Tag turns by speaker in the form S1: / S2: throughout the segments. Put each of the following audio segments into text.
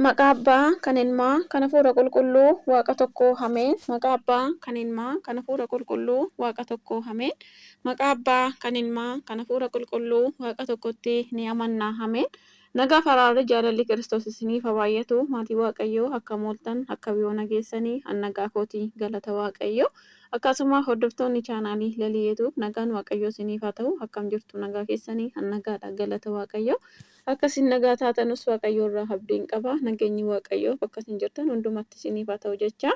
S1: Maqaa Abbaa, kan Ilmaa, kan Hafuura Qulqulluu, Waaqa tokkoo. Ameen. Maqaa Abbaa, kan Ilmaa, kan Hafuura Qulqulluu, Waaqa tokkoo. Ameen. Maqaa Abbaa, kan Ilmaa, kan Hafuura Qulqulluu, Waaqa tokkotti ni amanna. Ameen. Nagaaf araarri jaalalli Kiristoos isiniif ha baay'atu maatii Waaqayyoo akkam ooltan akkam yoo nageessanii an nagaa kooti galata Waaqayyoo akkaasuma hordoftoonni chaanaalii lalii yetuub nagaan Waaqayyoo isiniif haa ta'u akkam jirtu nagaa keessanii an nagaadha galata Waaqayyoo Akka isin nagaa taatanus Waaqayyo irraa habdiin qaba. Nageenyi Waaqayyoo bakka isin jirtan hundumatti isiniif haa ta'u jechaa.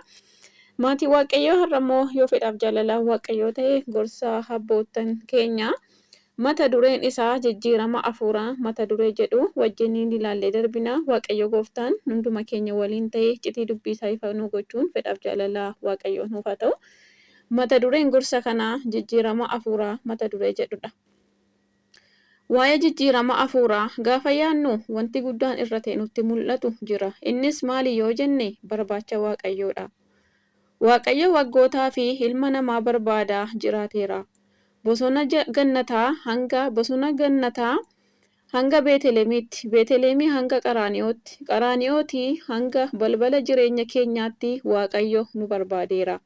S1: Maatii Waaqayyoo har'a immoo yoo fedhaaf jaalalaa Waaqayyoo ta'e gorsa abboottan keenya mata dureen isaa jijjiirama afuuraa mata duree jedhu wajjiniin ilaallee darbina. Waaqayyo gooftaan hunduma keenya waliin ta'e iccitii dubbii isaa ifa nuu gochuun fedhaaf jaalalaa Waaqayyoo nuuf haa ta'u. Mata dureen gorsa kanaa jijjiirama afuuraa mata duree jedhudha. Waa'ee jijjiirama hafuuraa gaafa yaadnu wanti guddaan irra ta'e nutti mul'atu jira. Innis maali yoo jenne barbaacha Waaqayyoo dha. Waaqayyo waggootaa fi ilma namaa barbaadaa jiraateera. Bosona Gannataa hanga Bosona Gannataa hanga Beetelemiitti, Beetelemii hanga Qaraani'ootti, Qaraani'ootii hanga balbala jireenya keenyaatti Waaqayyo nu barbaadeera.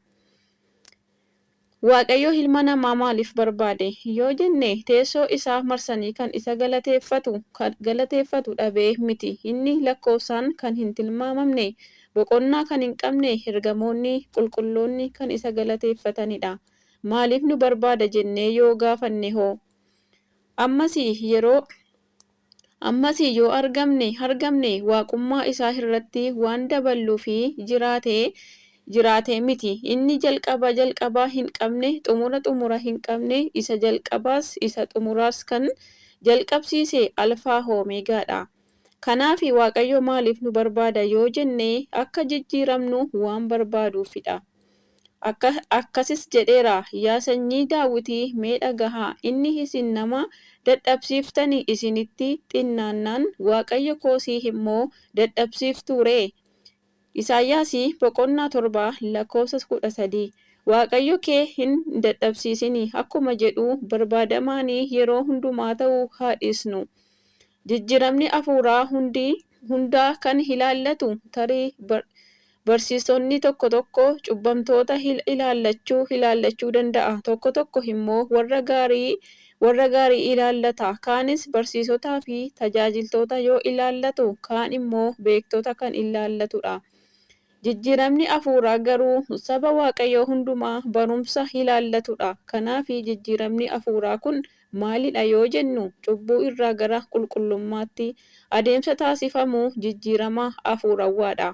S1: Waaqayyo ilma namaa maaliif barbaade? yoo jenne, teessoo isaa marsanii kan isa galateeffatu, kan galateeffatu dhabee miti. Inni lakkoofsaan kan hin tilmaamamne, boqonnaa kan hin qabne, ergamoonni qulqulloonni kan isa galateeffatanidha. Maaliif nu barbaada jennee yoo gaafannehoo? Ammas yeroo. Ammasii yoo argamne hargamne Waaqummaa isaa irratti waan daballuufi jiraate jiraate miti. Inni jalqaba jalqaba hin qabne, xumura xumura hin qabne, isa jalqabaas isa xumuraas kan jalqabsiise Alfaa fi Omeegaa dha. Kanaafi Waaqayyo maaliif nu barbaada yoo jenne akka jijjiiramnu waan barbaaduufi dha. Akkasis jedheera, Yaa sanyii Daawitii, mee dhaga'aa! Inni isin nama dadhabsiiftani isinitti xinnaannaan, Waaqayyo koo si immoo dadhabsiiftuu ree? Isaayaas boqonnaa 7 lakkoofsa 13. Waaqayyo kee hin dadhabsiisini akkuma jedhu barbaadamaanii yeroo hundumaa ta'uu haa dhiisnu. Jijjiiramni hafuuraa hundi hundaa kan ilaallatu tarii barsiisonni tokko tokko cubbamtoota ilaallachuu ilaallachuu danda'a, tokko tokko immoo warra gaarii warra gaarii ilaallata, kaanis barsiisotaa fi tajaajiltoota yoo ilaallatu, kaan immoo beektota kan ilaallatu dha. Jijjiiramni afuuraa garuu saba Waaqayyoo hundumaa barumsa ilaallatu dha. Kanaaf jijjiiramni afuuraa kun maali dha yoo jennu, cubbuu irraa gara qulqullummaatti adeemsa taasifamu jijjiirama afuurawwaa dha.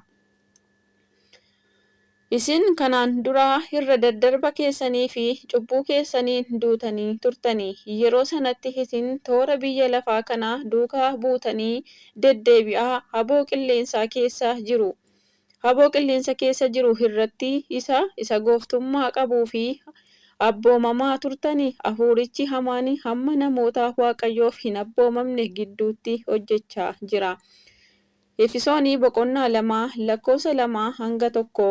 S1: Isin kanaan dura irra daddarba keessanii fi cubbuu keessaniin duutanii turtanii, yeroo sanatti isin toora biyya lafaa kanaa duukaa buutanii deddeebi'aa aboo qilleensaa keessa jiru. Haboo qilleensa keessa jiru irratti isa isa gooftummaa qabuu fi abboomamaa turtani, afuurichi hamaan hamma namoota Waaqayyoof hin abboomamne gidduutti hojjechaa jira. Efisoon boqonnaa 2 lakkoofsa 2-1.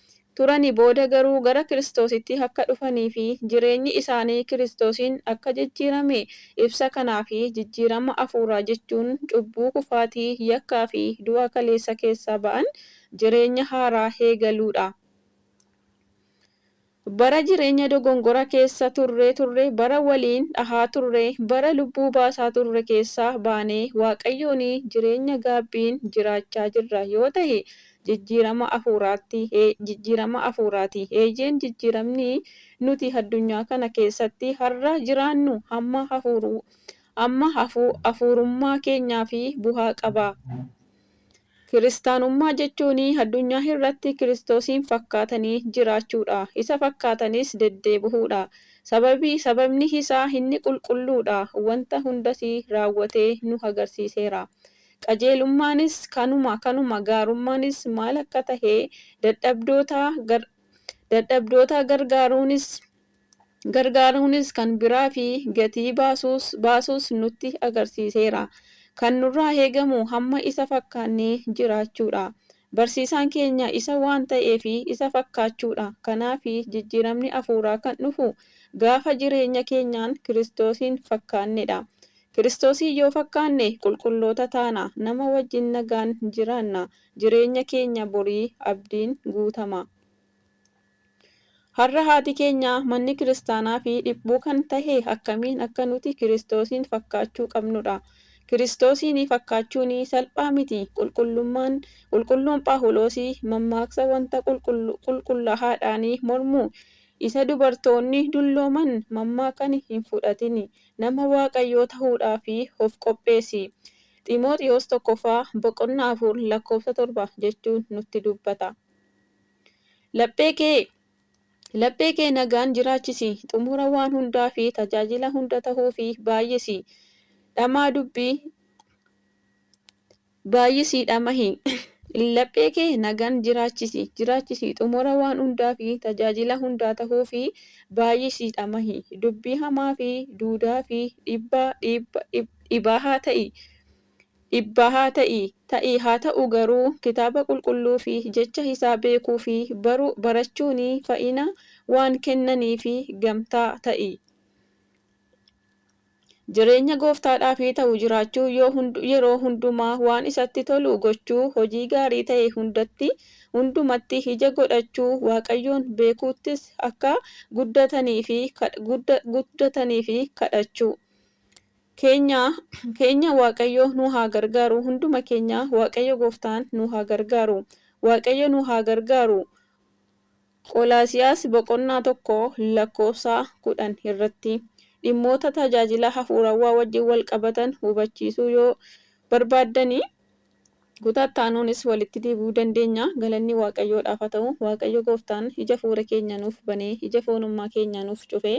S1: turani booda garuu gara Kiristoositti akka dhufanii fi jireenyi isaanii Kiristoosiin akka jijjiirame ibsa kanaa fi jijjiirama afuuraa jechuun cubbuu kufaatii yakkaa fi du'a kaleessa keessaa ba'an jireenya haaraa heegaluu dha. Bara jireenya dogongora keessa turree turre bara waliin dhahaa turre bara lubbuu baasaa turre keessaa baanee waaqayyooni jireenya gaabbiin jiraachaa jirra yoo tahe Jijjiirama Hafuuraatti, Ee, jijjiirama hafuuraati. Eeyyeen, jijjiiramni nuti addunyaa kana keessatti har'a jiraannu hamma hafuuru, hamma hafu, hafuurummaa keenyaaf bu'aa qaba. Kiristaanummaa jechuun addunyaa irratti Kiristoosiin fakkaatanii jiraachuudha, isa fakkaatanis deddeebi'uudha. Sababii, sababni isaa inni qulqulluudha, wanta hundas raawwatee nu agarsiiseera. Qajeelummaanis kanuma, kanuma gaarummaanis maal akka tahe, dadhabdootaa, gar, dadhabdootaa gargaaruunis, gargaaruunis kan biraa fi gatii baasuus, baasuus nutti agarsiiseera. Kan nurraa eegamu hamma isa fakkaannee jiraachuu dha. Barsiisaan keenya isa waan ta'eef isa fakkaachuudha. Kanaaf, jijjiiramni hafuuraa kan dhufu gaafa jireenya keenyaan Kiristoosiin fakkaannedha. Kiristoosiin yoo fakkaanne qulqulloota taana, nama wajjin nagaan jiraanna, jireenya keenya borii abdiin guutama. Har'a haati keenya, manni kiristaanaa fi dhiphuu kan tahe akkamiin akka nuti Kiristoosiin fakkaachuu qabnu dha. Kiristoosiin fakkaachuun salphaa miti. Qulqullummaan, Qulqulluun Phaawuloos mammaaksa wanta qulqullu qulqullaahaadhaan mormu isa dubartoonni dullooman mammaakan hin fudhatin, nama Waaqayyoo tahuudhaaf of qopheessi. Ximooxiwoos 1ffaa boqonnaa 4 lakkoofsa 7 jechuun nutti dubbata. Laphee kee Laphee kee nagaan jiraachisi, xumura waan hundaa fi tajaajila hunda tahuufi baayyisi dhamaa dubbii baayyisii dhamahi. Laphee kee nagaan jiraachisi, jiraachisi, xumura waan hundaa fi tajaajila hundaa tahuufi baayyisii dhamahi. Dubbii hamaa fi duudaa fi dhibbaa, dhiibba, dhibaahaa ta'i. Dhibbaa haa ta'i, ta'i haa ta'u garuu kitaaba qulqulluu fi jecha isaa beekuu fi baruu, barachuuni fayina waan kennaniifi gamtaa ta'i. Jireenya gooftaadhaafi ta'u jiraachuu yoo hundu yeroo hundumaa waan isatti tolu gochuu, hojii gaarii ta'e hundatti, hundumatti ija godhachuu, Waaqayyoon beekuuttis akka guddataniifi kadh gudda guddataniifi kadhachuu. keenya keenya waaqayyo nuu haa gargaaru hunduma keenya waaqayyo gooftaan nuu haa gargaaru waaqayyo nuu haa gargaaru Qolaasiyaas boqonnaa 1 lakkoofsa 10 irratti dhimmoota tajaajila hafuurawwaa wajjin wal qabatan hubachiisuu yoo barbaaddani Kutaa itti aanuunis walitti deebi'uu dandeenya. Galanni Waaqayyoodhaaf haa ta'u, Waaqayyo Gooftaan ija hafuura keenya nuuf banee, ija foonummaa keenya nuuf cufee,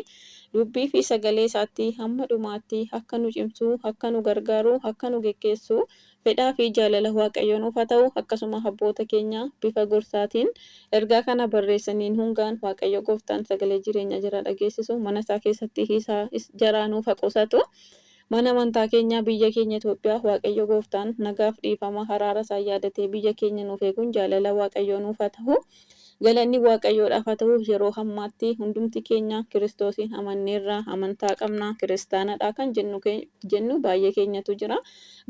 S1: Dubbii fi Sagalee Isaatti hamma dhumaatti akka nu cimsu, akka nu gargaaru, akka nu geggeessu fedhaa fi jaalala Waaqayyoo nuuf haa ta'u, akkasuma abboota keenya bifa gorsaatiin ergaa kana barreessaniin hungaan Waaqayyo Gooftaan sagalee jireenyaa jaraa dhageessisu mana isaa keessatti isaa jaraa nuuf haa qusatu. Mana amantaa keenyaa biyya keenya Itoophiyaa Waaqayyo gooftaan nagaaf dhiifama haraara isaan yaadatee biyya keenya nuuf eeguun jaalala Waaqayyoo nuuf haa tahu Galanni Waaqayyoodhaaf haa tahu yeroo hammaatti hundumti keenya kiristoosiin amanneerra amantaa qabna kiristaanadha kan jennu baay'ee keenyatu jira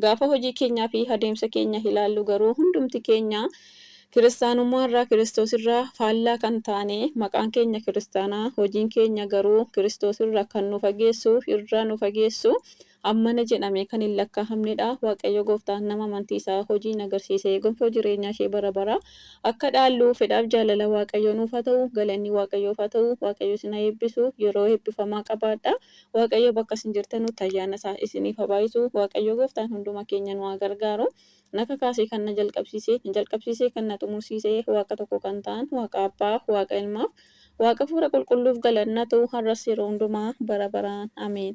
S1: gaafa hojii keenyaa fi adeemsa keenya ilaallu garuu hundumti keenya Kiristaanummaa irraa Kiristoos irraa faallaa kan taane, maqaan keenya Kiristaana, hojiin keenya garuu Kiristoos irraa kan nu fageessu, irraa nu fageessu, ammana jedhamee kan hin lakkaa'amne dha. Waaqayyo Gooftaan nama amantii isaa hojiin agarsiisee gonfoo jireenyaa ishee bara baraa akka dhaallu fedhaaf jaalala Waaqayyoo nuuf haa ta'u. Galanni Waaqayyoof haa ta'u. Waaqayyo isin haa eebbisu. Yeroo eebbifamaa qabaadhaa. Waaqayyo bakka isin jirtanutti ayyaana isaa isiniif haa baay'isu. Waaqayyo Gooftaan hunduma keenya nu haa gargaaru. Na kakaasee kan na jalqabsiise, na jalqabsiisee kan na xumursiise Waaqa tokko kan ta'an Waaqa Abbaa, Waaqa Ilmaaf, Waaqa Afuura Qulqulluuf galanni haa ta'u har'as yeroo hundumaa bara baraan. Ameen.